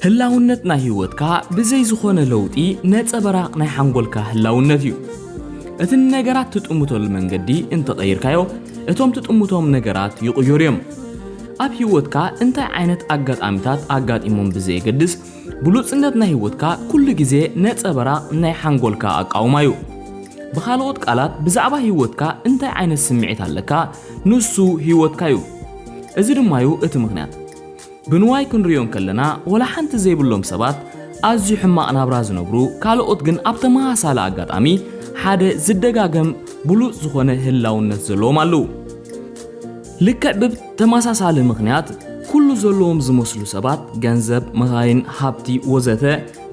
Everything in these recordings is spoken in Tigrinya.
ህላውነት ናይ ህይወትካ ብዘይ ዝኾነ ለውጢ ነጸበራቕ ናይ ሓንጎልካ ህላውነት እዩ። እቲ ንነገራት ትጥምተሉ መንገዲ እንተቐይርካዮ እቶም ትጥምቶም ነገራት ይቕየሩ እዮም ኣብ ህይወትካ እንታይ ዓይነት ኣጋጣሚታት ኣጋጢሞም ብዘየገድስ ብሉጽነት ናይ ህይወትካ ኩሉ ግዜ ነጸበራቕ ናይ ሓንጎልካ ኣቃውማ እዩ ብኻልኦት ቃላት ብዛዕባ ህይወትካ እንታይ ዓይነት ስምዒት ኣለካ ንሱ ህይወትካ እዩ እዚ ድማ እዩ እቲ ምኽንያት ብንዋይ ክንርእዮ እንከለና ወላ ሓንቲ ዘይብሎም ሰባት ኣዝዩ ሕማቕ ናብራ ዝነብሩ ካልኦት ግን ኣብ ተመሳሳሊ ኣጋጣሚ ሓደ ዝደጋገም ብሉጽ ዝኾነ ህላውነት ዘለዎም ኣለዉ። ልክዕ ብተመሳሳሊ ምኽንያት ኩሉ ዘለዎም ዝመስሉ ሰባት ገንዘብ፣ መኻይን፣ ሃብቲ ወዘተ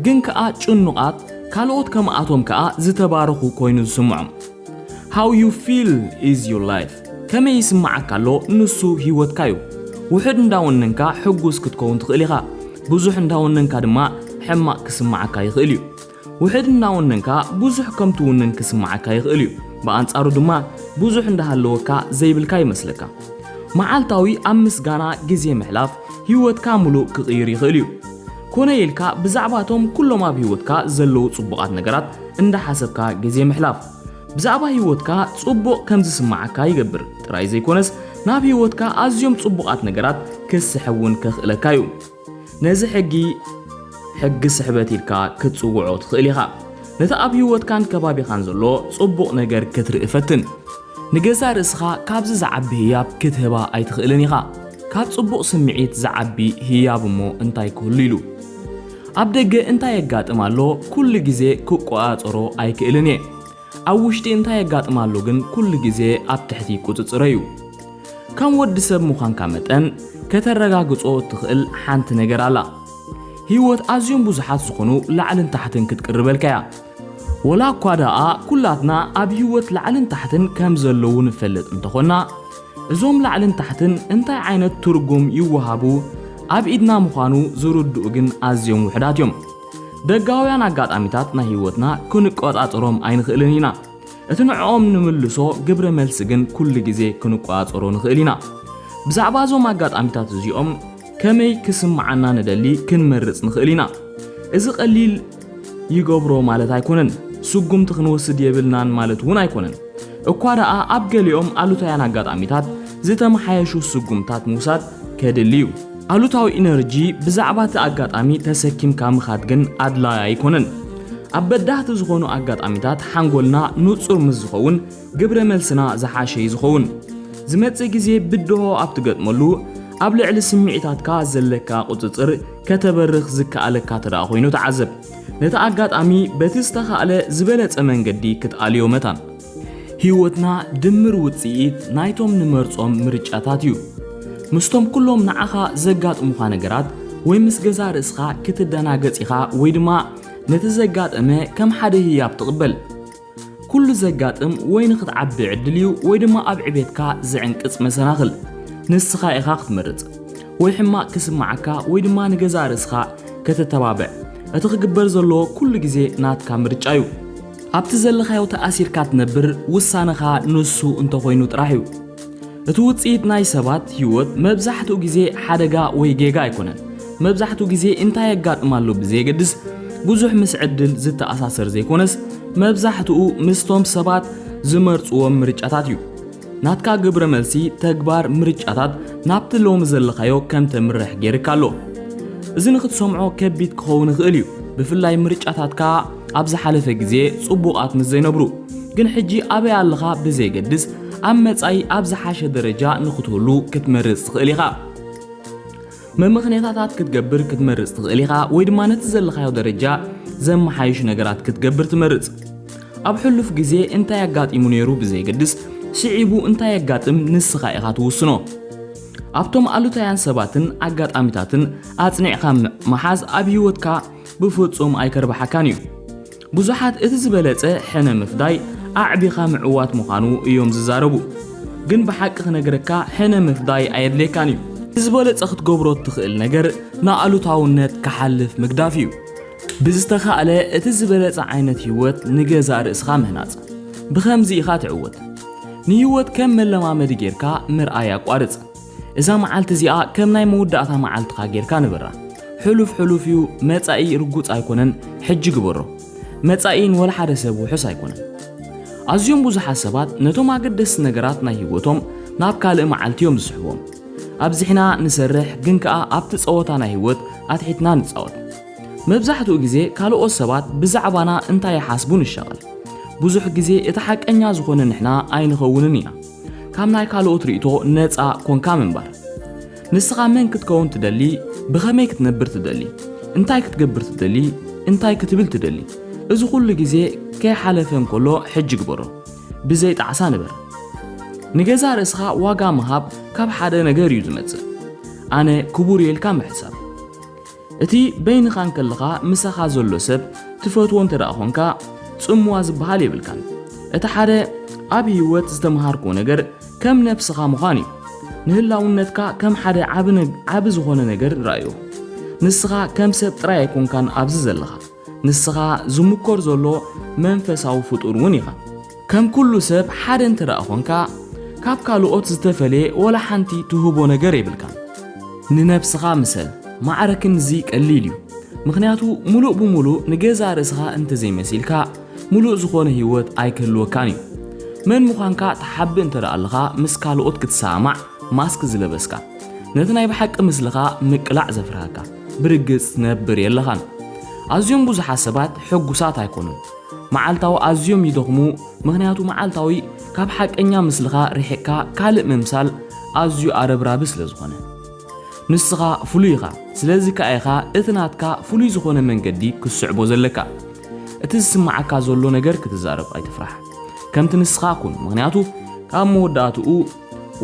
ግን ከኣ ጭኑቓት ካልኦት ከምኣቶም ከኣ ዝተባረኹ ኮይኑ ዝስምዖም How you feel is your life ከመይ ይስምዓካ ኣሎ ንሱ ህይወትካ እዩ። ውሑድ እንዳወነንካ ሕጉስ ክትከውን ትኽእል ኢኻ፣ ብዙሕ እንዳወነንካ ድማ ሕማቕ ክስምዓካ ይኽእል እዩ። ውሑድ እንዳወነንካ ብዙሕ ከም ትውንን ክስምዓካ ይኽእል እዩ፣ ብኣንጻሩ ድማ ብዙሕ እንዳሃለወካ ዘይብልካ ይመስለካ። መዓልታዊ ኣብ ምስጋና ግዜ ምሕላፍ ህይወትካ ምሉእ ክቕይር ይኽእል እዩ። ኮነ ኢልካ ብዛዕባ እቶም ኩሎም ኣብ ህይወትካ ዘለዉ ጽቡቓት ነገራት እንዳሓሰብካ ግዜ ምሕላፍ፣ ብዛዕባ ህይወትካ ጽቡቕ ከም ዝስምዓካ ይገብር ጥራይ ዘይኮነስ፣ ናብ ህይወትካ ኣዝዮም ጽቡቓት ነገራት ክትስሕብ እውን ከኽእለካ እዩ። ነዚ ሕጊ፣ ሕጊ ስሕበት ኢልካ ክትጽውዖ ትኽእል ኢኻ። ነቲ ኣብ ህይወትካን ከባቢኻን ዘሎ ጽቡቕ ነገር ክትርኢ ፈትን። ንገዛእ ርእስኻ ካብዚ ዝዓቢ ህያብ ክትህባ ኣይትኽእልን ኢኻ። ካብ ጽቡቕ ስምዒት ዝዓቢ ህያብ እሞ እንታይ ክህሉ ኢሉ? ኣብ ደገ እንታይ የጋጥም ኣሎ ኩሉ ግዜ ክቆጻጸሮ ኣይክእልን እየ። ኣብ ውሽጢ እንታይ የጋጥም ኣሎ ግን ኩሉ ግዜ ኣብ ትሕቲ ቁጽጽረይ እዩ። ከም ወዲ ሰብ ምዃንካ መጠን ከተረጋግጾ እትኽእል ሓንቲ ነገር ኣላ። ህይወት ኣዝዮም ብዙሓት ዝኾኑ ላዕልን ታሕትን ክትቅርበልካ እያ። ወላ እኳ ደኣ ኩላትና ኣብ ህይወት ላዕልን ታሕትን ከም ዘለዉ ንፈልጥ እንተኾንና፣ እዞም ላዕልን ታሕትን እንታይ ዓይነት ትርጉም ይወሃቡ ኣብ ኢድና ምዃኑ ዝርድኡ ግን ኣዝዮም ውሑዳት እዮም። ደጋውያን ኣጋጣሚታት ናይ ህይወትና ክንቆጻጸሮም ኣይንኽእልን ኢና። እቲ ንዕኦም ንምልሶ ግብረ መልሲ ግን ኩሉ ግዜ ክንቆጻጸሮ ንኽእል ኢና። ብዛዕባ እዞም ኣጋጣሚታት እዚኦም ከመይ ክስምዓና ንደሊ ክንመርጽ ንኽእል ኢና። እዚ ቀሊል ይገብሮ ማለት ኣይኮነን። ስጉምቲ ክንወስድ የብልናን ማለት እውን ኣይኮነን። እኳ ደኣ ኣብ ገሊኦም ኣሉታውያን ኣጋጣሚታት ዝተመሓየሹ ስጉምታት ምውሳድ ከድሊ እዩ። ኣሉታዊ ኢነርጂ ብዛዕባ እቲ ኣጋጣሚ ተሰኪምካ ምኻድ ግን ኣድላዪ ኣይኮነን። ኣብ በዳህቲ ዝኾኑ ኣጋጣሚታት ሓንጎልና ንጹር ምስ ዝኸውን ግብረ መልስና ዝሓሸ እዩ ዝኸውን። ዝመጽእ ግዜ ብድሆ ኣብ ትገጥመሉ ኣብ ልዕሊ ስምዒታትካ ዘለካ ቁጽጽር ከተበርኽ ዝከኣለካ ተደኣ ኮይኑ ተዓዘብ። ነቲ ኣጋጣሚ በቲ ዝተኻእለ ዝበለጸ መንገዲ ክትኣልዮ መታን። ህይወትና ድምር ውጽኢት ናይቶም ንመርጾም ምርጫታት እዩ። ምስቶም ኩሎም ንዓኻ ዘጋጥሙኻ ነገራት ወይ ምስ ገዛእ ርእስኻ ክትደናገጽ ኢኻ ወይ ድማ ነቲ ዘጋጠመ ከም ሓደ ህያብ ትቕበል። ኩሉ ዘጋጥም ወይ ንኽትዓቢ ዕድል እዩ ወይ ድማ ኣብ ዕቤትካ ዝዕንቅጽ መሰናኽል ንስኻ ኢኻ ክትመርጽ ወይ ሕማቕ ክስምዓካ ወይ ድማ ንገዛእ ርእስኻ ከተተባብዕ እቲ ክግበር ዘለዎ ኩሉ ግዜ ናትካ ምርጫ እዩ ኣብቲ ዘለኻዮ ተኣሲርካ ትነብር ውሳነኻ ንሱ እንተኾይኑ ጥራሕ እዩ እቲ ውጽኢት ናይ ሰባት ህይወት መብዛሕትኡ ግዜ ሓደጋ ወይ ጌጋ ኣይኮነን። መብዛሕትኡ ግዜ እንታይ የጋጥም ኣሎ ብዘየገድስ ብዙሕ ምስ ዕድል ዝተኣሳሰር ዘይኮነስ መብዛሕትኡ ምስቶም ሰባት ዝመርጽዎም ምርጫታት እዩ። ናትካ ግብረ መልሲ ተግባር ምርጫታት ናብቲ ሎሚ ዘለኻዮ ከም ተምርሕ ገይርካ ኣሎ። እዚ ንኽትሰምዖ ከቢድ ክኸውን ይኽእል እዩ፣ ብፍላይ ምርጫታትካ ኣብ ዝሓለፈ ግዜ ጽቡቓት ምስ ዘይነብሩ ግን ሕጂ ኣበይ ኣለኻ ብዘይገድስ ኣብ መጻኢ ኣብ ዝሓሸ ደረጃ ንኽትህሉ ክትመርጽ ትኽእል ኢኻ። መመኽነታታት ክትገብር ክትመርጽ ትኽእል ኢኻ ወይ ድማ ነቲ ዘለኻዮ ደረጃ ዘመሓይሽ ነገራት ክትገብር ትመርጽ። ኣብ ሕሉፍ ግዜ እንታይ ኣጋጢሙ ነይሩ ብዘይገድስ ስዒቡ እንታይ የጋጥም ንስኻ ኢኻ ትውስኖ። ኣብቶም ኣሉታውያን ሰባትን ኣጋጣሚታትን ኣጽኒዕካ ምሓዝ ኣብ ህይወትካ ብፍጹም ኣይከርብሓካን እዩ። ብዙሓት እቲ ዝበለጸ ሕነ ምፍዳይ ኣዕቢኻ ምዕዋት ምዃኑ እዮም ዝዛረቡ። ግን ብሓቂ ክነግረካ ሕነ ምፍዳይ ኣየድልየካን እዩ። እቲ ዝበለጸ ክትገብሮ እትኽእል ነገር ንኣሉታውነት ክሓልፍ ምግዳፍ እዩ። ብዝተኻእለ እቲ ዝበለጸ ዓይነት ህይወት ንገዛእ ርእስኻ ምህናጽ። ብኸምዚ ኢኻ ትዕወት። ንህይወት ከም መለማመዲ ጌርካ ምርኣይ ኣቋርጽ። እዛ መዓልቲ እዚኣ ከም ናይ መወዳእታ መዓልትኻ ጌርካ ንበራ። ሕሉፍ ሕሉፍ እዩ፣ መጻኢ ርጉጽ ኣይኮነን፣ ሕጂ ግበሮ። መጻኢ ንወልሓደ ሰብ ውሑስ ኣይኮነን። ኣዝዮም ብዙሓት ሰባት ነቶም ኣገደስቲ ነገራት ናይ ህይወቶም ናብ ካልእ መዓልቲ እዮም ዝስሕቦም። ኣብዚሕና ንሰርሕ ግን ከኣ ኣብቲ ጸወታ ናይ ህይወት ኣትሒትና ንጻወት። መብዛሕትኡ ግዜ ካልኦት ሰባት ብዛዕባና እንታይ ይሓስቡ ንሻቐል። ብዙሕ ግዜ እቲ ሓቀኛ ዝኾነ ንሕና ኣይንኸውንን ኢና። ካብ ናይ ካልኦት ርእይቶ ነጻ ኰንካ ምንባር። ንስኻ መን ክትከውን ትደሊ? ብኸመይ ክትነብር ትደሊ? እንታይ ክትገብር ትደሊ? እንታይ ክትብል ትደሊ? እዚ ዅሉ ግዜ ከይሓለፈ እንከሎ ሕጂ ግበሮ። ብዘይ ጣዕሳ ንበር። ንገዛእ ርእስኻ ዋጋ ምሃብ ካብ ሓደ ነገር እዩ ዝመጽእ፣ ኣነ ክቡር እየ ኢልካ ምሕሳብ። እቲ በይንኻ እንከለኻ ምሳኻ ዘሎ ሰብ ትፈትዎ እንተ ኾንካ ጽምዋ ዝበሃል የብልካን። እቲ ሓደ ኣብ ህይወት ዝተምሃርክዎ ነገር ከም ነብስኻ ምዃን እዩ። ንህላውነትካ ከም ሓደ ዓቢ ዝኾነ ነገር ርኣዮ። ንስኻ ከም ሰብ ጥራይ ኣይኮንካን ኣብዚ ዘለኻ። ንስኻ ዝምኮር ዘሎ መንፈሳዊ ፍጡር እውን ኢኻ። ከም ኩሉ ሰብ ሓደ እንተደኣ ኾንካ ካብ ካልኦት ዝተፈለየ ወላ ሓንቲ ትህቦ ነገር የብልካን። ንነብስኻ ምሰል። ማዕረ ክንድዚ ቀሊል እዩ። ምኽንያቱ ሙሉእ ብሙሉእ ንገዛእ ርእስኻ እንተዘይመሲልካ ሙሉእ ዝኾነ ህይወት ኣይክህልወካን እዩ። መን ምዃንካ ትሓብእ እንተደኣ ኣለኻ ምስ ካልኦት ክትሰማማዕ ማስክ ዝለበስካ። ነቲ ናይ ብሓቂ ምስልኻ ምቅላዕ ዘፍርሃካ። ብርግጽ ትነብር የለኻን። ኣዝዮም ብዙሓት ሰባት ሕጉሳት ኣይኮኑን። መዓልታዊ ኣዝዮም ይደኽሙ፣ ምኽንያቱ መዓልታዊ ካብ ሓቀኛ ምስልኻ ርሒቕካ ካልእ ምምሳል ኣዝዩ ኣረብራቢ ስለ ዝኾነ። ንስኻ ፍሉይ ኢኻ፣ ስለዚ ከኣ ኢኻ እቲ ናትካ ፍሉይ ዝኾነ መንገዲ ክትስዕቦ ዘለካ። እቲ ዝስምዓካ ዘሎ ነገር ክትዛረብ ኣይትፍራሕ። ከምቲ ንስኻ ኩን፣ ምኽንያቱ ኣብ መወዳእትኡ፣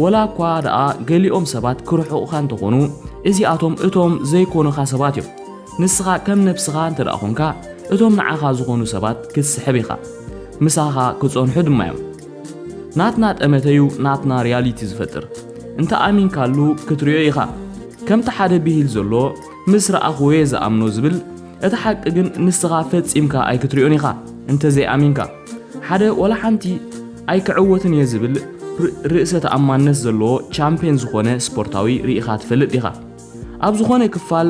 ወላ እኳ ደኣ ገሊኦም ሰባት ክርሕቑኻ እንተኾኑ፣ እዚኣቶም እቶም ዘይኮኑኻ ሰባት እዮም። ንስኻ ከም ነብስኻ እንተ ኾንካ፣ እቶም ንዓኻ ዝኾኑ ሰባት ክትስሕብ ኢኻ። ምሳኻ ክጸንሑ ድማ እዮም። ናትና ጠመተ እዩ ናትና ሪያሊቲ ዝፈጥር። እንተ ኣሚንካሉ ክትሪኦ ኢኻ። ከምቲ ሓደ ብሂል ዘሎ ምስ ረኣኽዎ እየ ዝኣምኖ ዝብል፣ እቲ ሓቂ ግን ንስኻ ፈጺምካ ኣይክትሪኦን ኢኻ እንተ ዘይኣሚንካ። ሓደ ወላ ሓንቲ ኣይክዕወትን እየ ዝብል ርእሰ ተኣማንነት ዘለዎ ቻምፕየን ዝኾነ ስፖርታዊ ርኢኻ ትፈልጥ ዲኻ? ኣብ ዝኾነ ክፋል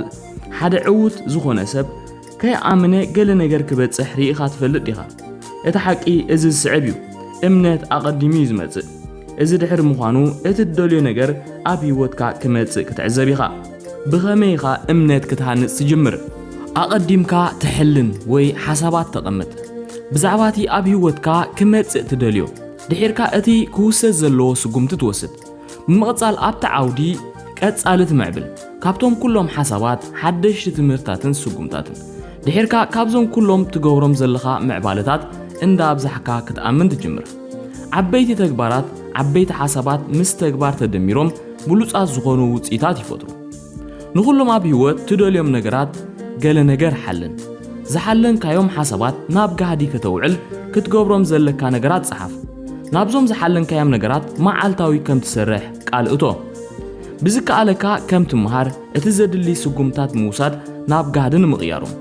ሓደ ዕዉት ዝኾነ ሰብ ከይኣምነ ገለ ነገር ክበጽሕ ርኢኻ ትፈልጥ ዲኻ? እቲ ሓቂ እዚ ዝስዕብ እዩ፣ እምነት ኣቐዲሙ እዩ ዝመጽእ። እዚ ድሕሪ ምዃኑ እቲ ትደልዮ ነገር ኣብ ህይወትካ ክመጽእ ክትዕዘብ ኢኻ። ብኸመይ ኢኻ እምነት ክትሃንጽ ትጅምር? ኣቐዲምካ ትሕልን ወይ ሓሳባት ተቐምጥ። ብዛዕባ እቲ ኣብ ህይወትካ ክመጽእ ትደልዮ፣ ድሒርካ እቲ ክውሰድ ዘለዎ ስጉምቲ ትወስድ። ብምቕጻል ኣብቲ ዓውዲ ቀጻሊ ትምዕብል፣ ካብቶም ኩሎም ሓሳባት፣ ሓደሽቲ ትምህርትታትን ስጉምታትን። ድሒርካ ካብዞም ኩሎም ትገብሮም ዘለኻ ምዕባለታት እንዳ ኣብዛሕካ ክትኣምን ትጅምር። ዓበይቲ ተግባራት፣ ዓበይቲ ሓሳባት ምስ ተግባር ተደሚሮም ብሉጻት ዝኾኑ ውጽኢታት ይፈጥሩ። ንኹሎም ኣብ ህይወት ትደልዮም ነገራት ገለ ነገር ሓልን። ዝሓለንካዮም ሓሳባት ናብ ጋህዲ ከተውዕል ክትገብሮም ዘለካ ነገራት ጸሓፍ። ናብዞም ዝሓለንካዮም ነገራት መዓልታዊ ከም ትሰርሕ ቃል እቶ። ብዝከኣለካ ከም ትመሃር እቲ ዘድሊ ስጉምታት ምውሳድ ናብ ጋህዲ ንምቕያሮም።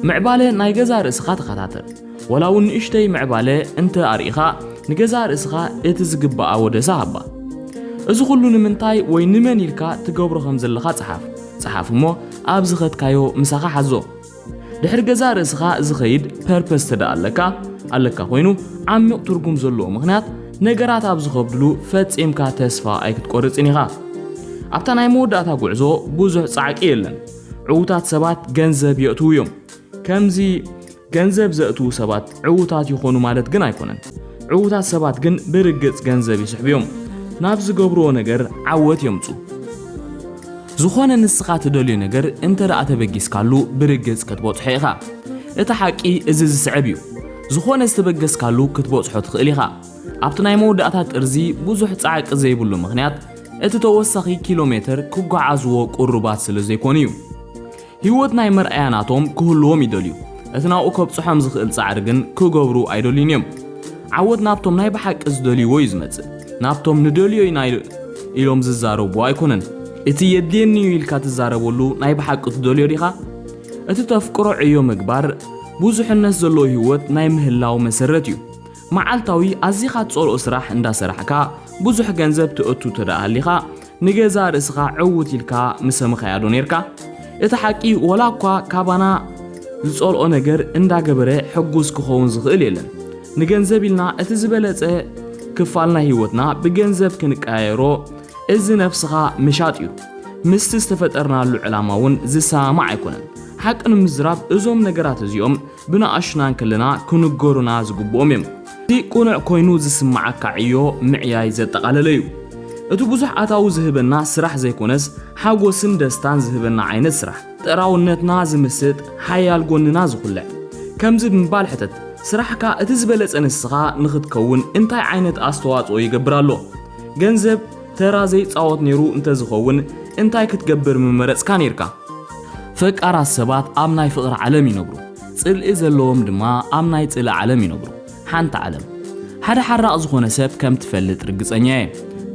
ምዕባለ ናይ ገዛእ ርእስኻ ተኸታተል። ወላ እውን ንእሽተይ ምዕባለ እንተ ኣርኢኻ፣ ንገዛእ ርእስኻ እቲ ዝግብኣ ወደሳ ሃባ። እዚ ኹሉ ንምንታይ ወይ ንመን ኢልካ ትገብሮ ከም ዘለኻ ጸሓፍ። ጸሓፍ እሞ ኣብ ዝኸድካዮ ምሳኻ ሓዞ። ድሕሪ ገዛእ ርእስኻ ዝኸይድ ፐርፐስ ተደኣ ኣለካ ኣለካ ኮይኑ ዓሚቕ ትርጉም ዘለዎ ምኽንያት ነገራት ኣብ ዝኸብድሉ ፈጺምካ ተስፋ ኣይክትቆርጽን ኢኻ። ኣብታ ናይ መወዳእታ ጉዕዞ ብዙሕ ጻዕቂ የለን። ዕውታት ሰባት ገንዘብ የእትዉ እዮም። ከምዚ ገንዘብ ዘእትዉ ሰባት ዕዉታት ይዀኑ ማለት ግን ኣይኰነን። ዕዉታት ሰባት ግን ብርግጽ ገንዘብ ይስሕቡ እዮም። ናብ ዝገብርዎ ነገር ዓወት የምጽኡ። ዝዀነ ንስኻ ትደልዮ ነገር እንተ ደኣ ተበጊስካሉ ብርግጽ ክትበጽሖ ኢኻ። እቲ ሓቂ እዚ ዝስዕብ እዩ፣ ዝዀነ ዝተበገስካሉ ክትበጽሖ ትኽእል ኢኻ። ኣብቲ ናይ መወዳእታ ጥርዚ ብዙሕ ጻዕቂ ዘይብሉ ምኽንያት፣ እቲ ተወሳኺ ኪሎሜተር ክጓዓዝዎ ቅሩባት ስለ ዘይኰኑ እዩ። ህይወት ናይ መርኣያ ናቶም ክህልዎም ይደልዩ፣ እቲ ናብኡ ከብጽሖም ዝኽእል ጻዕሪ ግን ክገብሩ ኣይደልዩን እዮም። ዓወት ናብቶም ናይ ብሓቂ ዝደልይዎ እዩ ዝመጽእ፣ ናብቶም ንደልዮ ኢና ኢሎም ዝዛረብዎ ኣይኮነን። እቲ የድልየኒ እዩ ኢልካ ትዛረበሉ ናይ ብሓቂ ትደልዮ ዲኻ? እቲ ተፍቅሮ ዕዮ ምግባር ብዙሕነት ዘለዎ ህይወት ናይ ምህላው መሰረት እዩ። መዓልታዊ ኣዚኻ ትጸልኦ ስራሕ እንዳ ሰራሕካ ብዙሕ ገንዘብ ተእቱ እንተደኣ ሃሊኻ፣ ንገዛእ ርእስኻ ዕዉት ኢልካ ምሰመኻያ ዶ ኔርካ? እቲ ሓቂ ወላ እኳ ካባና ዝጸልኦ ነገር እንዳገበረ ሕጉስ ክኸውን ዝኽእል የለን። ንገንዘብ ኢልና እቲ ዝበለጸ ክፋል ናይ ህይወትና ብገንዘብ ክንቀያየሮ እዚ ነፍስኻ ምሻጥ እዩ። ምስቲ ዝተፈጠርናሉ ዕላማ እውን ዝሰማማዕ ኣይኮነን። ሓቂ ንምዝራብ እዞም ነገራት እዚኦም ብንኣሽቱና እንከለና ክንገሩና ዝግብኦም እዮም። እቲ ቅኑዕ ኮይኑ ዝስምዓካ ዕዮ ምዕያይ ዘጠቓለለ እዩ። እቲ ብዙሕ ኣታዊ ዝህበና ስራሕ ዘይኮነስ ሓጎስን ደስታን ዝህበና ዓይነት ስራሕ። ጥራውነትና ዝምስጥ፣ ሓያል ጎንና ዝኹልዕ። ከምዚ ብምባል ሕተት፣ ስራሕካ እቲ ዝበለጸ ንስኻ ንኽትከውን እንታይ ዓይነት ኣስተዋጽኦ ይገብር ኣሎ? ገንዘብ ተራ ዘይጻወት ነይሩ እንተዝኸውን እንታይ ክትገብር ምመረጽካ ነይርካ? ፈቃራት ሰባት ኣብ ናይ ፍቕሪ ዓለም ይነብሩ፣ ጽልኢ ዘለዎም ድማ ኣብ ናይ ጽልኢ ዓለም ይነብሩ። ሓንቲ ዓለም። ሓደ ሓራቕ ዝኾነ ሰብ ከም ትፈልጥ ርግጸኛ እየ።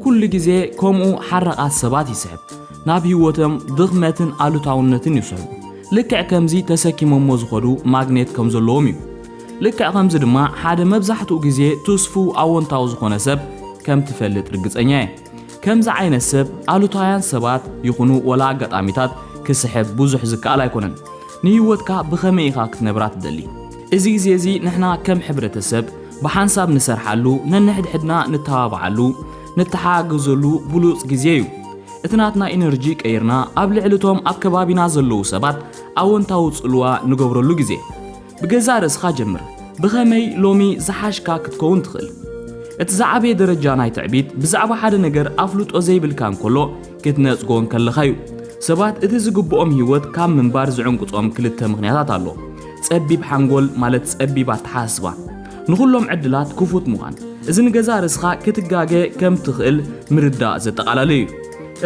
ኩሉ ግዜ ከምኡ ሓራቓት ሰባት ይስሕብ። ናብ ህይወቶም ድኽመትን ኣሉታውነትን ይስሕቡ። ልክዕ ከምዚ ተሰኪሞሞ ዝኸዱ ማግኔት ከም ዘለዎም እዩ። ልክዕ ከምዚ ድማ ሓደ መብዛሕትኡ ግዜ ትስፉው ኣወንታዊ ዝኾነ ሰብ ከም ትፈልጥ ርግጸኛ እየ። ከምዚ ዓይነት ሰብ ኣሉታውያን ሰባት ይኹኑ ወላ ኣጋጣሚታት ክስሕብ ብዙሕ ዝከኣል ኣይኮነን። ንህይወትካ ብኸመይ ኢኻ ክትነብራ ትደሊ? እዚ ግዜ እዚ ንሕና ከም ሕብረተሰብ ብሓንሳብ ንሰርሓሉ፣ ነንሕድሕድና ንተባብዓሉ፣ ንተሓጋገዘሉ ብሉጽ ግዜ እዩ። እቲ ናትና ኢነርጂ ቀይርና ኣብ ልዕሊ እቶም ኣብ ከባቢና ዘለዉ ሰባት ኣወንታዊ ጽልዋ ንገብረሉ ግዜ። ብገዛእ ርእስኻ ጀምር። ብኸመይ ሎሚ ዝሓሽካ ክትከውን ትኽእል? እቲ ዝዓበየ ደረጃ ናይ ትዕቢት ብዛዕባ ሓደ ነገር ኣፍልጦ ዘይብልካ እንከሎ ክትነጽጎ እንከለኻ እዩ። ሰባት እቲ ዝግብኦም ህይወት ካብ ምንባር ዝዕንቅጾም ክልተ ምኽንያታት ኣሎ፣ ጸቢብ ሓንጎል ማለት ጸቢብ ኣተሓሳስባ፣ ንኹሎም ዕድላት ክፉት ምዃን። እዚ ንገዛእ ርእስኻ ክትጋገ ከም ትኽእል ምርዳእ ዘጠቓላለ እዩ።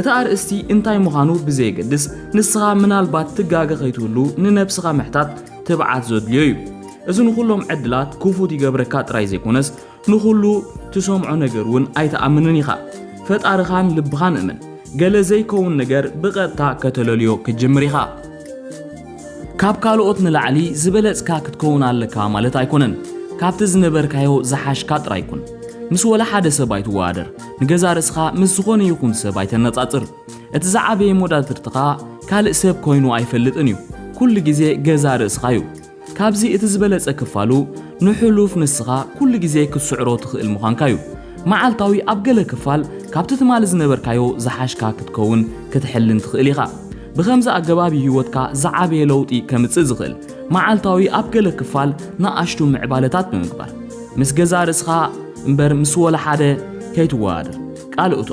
እቲ ኣርእስቲ እንታይ ምዃኑ ብዘየገድስ፣ ንስኻ ምናልባት ትጋገ ከይትህሉ ንነብስኻ ምሕታት ትብዓት ዘድልዮ እዩ። እዚ ንኹሎም ዕድላት ክፉት ይገብረካ ጥራይ ዘይኮነስ ንኹሉ ትሰምዖ ነገር እውን ኣይትኣምንን ኢኻ። ፈጣርኻን ልብኻን እመን። ገለ ዘይከውን ነገር ብቐጥታ ከተለልዮ ክትጅምር ኢኻ። ካብ ካልኦት ንላዕሊ ዝበለጽካ ክትከውን ኣለካ ማለት ኣይኮነን። ካብቲ ዝነበርካዮ ዝሓሽካ ጥራይ ኩን። ምስ ወላ ሓደ ሰብ ኣይትወዳደር። ንገዛ ርእስኻ ምስ ዝኾነ ይኹን ሰብ ኣይተነጻጽር። እቲ ዝዓበየ ሞዳትርትኻ ካልእ ሰብ ኮይኑ ኣይፈልጥን እዩ ኩሉ ግዜ ገዛ ርእስኻ እዩ ካብዚ እቲ ዝበለጸ ክፋሉ ንሕሉፍ ንስኻ ኩሉ ግዜ ክትስዕሮ ትኽእል ምዃንካ እዩ መዓልታዊ ኣብ ገለ ክፋል ካብቲ ትማሊ ዝነበርካዮ ዝሓሽካ ክትከውን ክትሕልን ትኽእል ኢኻ ብኸምዚ ኣገባብ እዩ ህይወትካ ዝዓበየ ለውጢ ከምጽእ ዝኽእል መዓልታዊ ኣብ ገለ ክፋል ንኣሽቱ ምዕባለታት ብምግባር ምስ ገዛ ርእስኻ እምበር ምስ ወላ ሓደ ከይትወዳደር ቃል እቶ